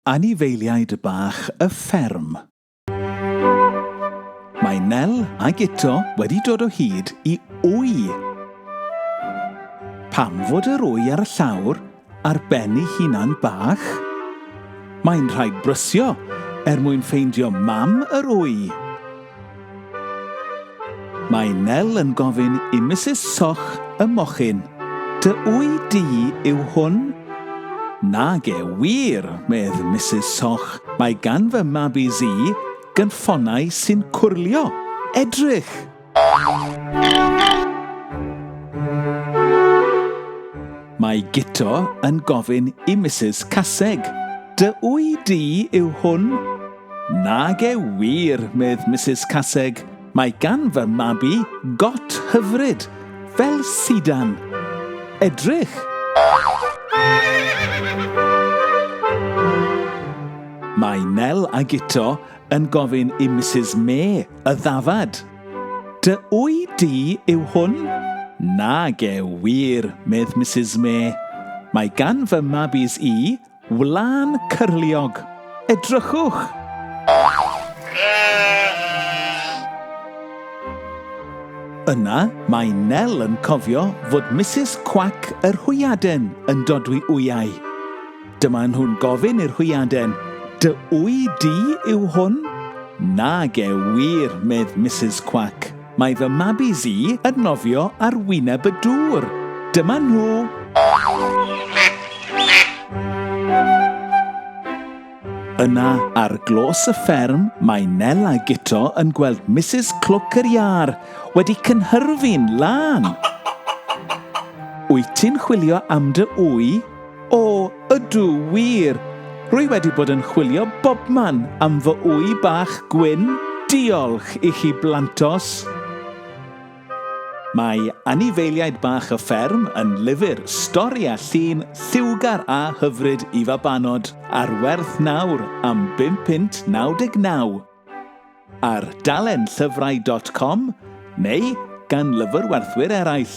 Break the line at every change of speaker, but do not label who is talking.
Anifeiliaid bach y fferm. Mae Nel a Guto wedi dod o hyd i wy. Pam fod yr wy ar y llawr ar ben ei hunan bach? Mae'n rhaid brysio er mwyn ffeindio mam yr wy. Mae Nel yn gofyn i Misus Soch y mochyn, Dy wy di yw hwn? Nage wir, medd Misus Soch, mae gan fy mab i zi gynffonnau sy'n cwrlio. Edrych! Mae Guto yn gofyn i Misus Caseg, Dy wy di yw hwn? Nage wir, medd Misus Caseg, mae gan fy mab i got hyfryd, fel sidan. Edrych! Mae Nel a Guto yn gofyn i Misus Mê y ddafad. Dy wy di yw hwn? Nage wir, medd Misus Mê. Mae gan fy mabis i Wlân cyrliog. Edrychwch! Yna mae Nel yn cofio fod Misus Cwac yr Hwyaden yn dodwy wyau. Dyma nhw'n gofyn i'r hwyaden, Dy wy di yw hwn? Nage wir, medd Misus Cwac. Mae fy mabis i yn nofio ar wyneb y dŵr. Dyma nhw! Yna, ar glos y fferm, mae Nel a Guto yn gweld Misus Clwc yr Iâr wedi cynhyrfu'n lân. Wyt ti'n chwilio am dy ŵy? O, ydw, wir! Rwy wedi bod yn chwilio bobman am fy ŵy bach gwyn, diolch i chi blantos! Mae anifeiliaid bach y fferm yn lyfr stori a llun lliwgar a hyfryd i fabanod, ar werth nawr am bum punt naw deg naw. Ar dalenllyfrau.com neu gan lyfrwerthwyr eraill.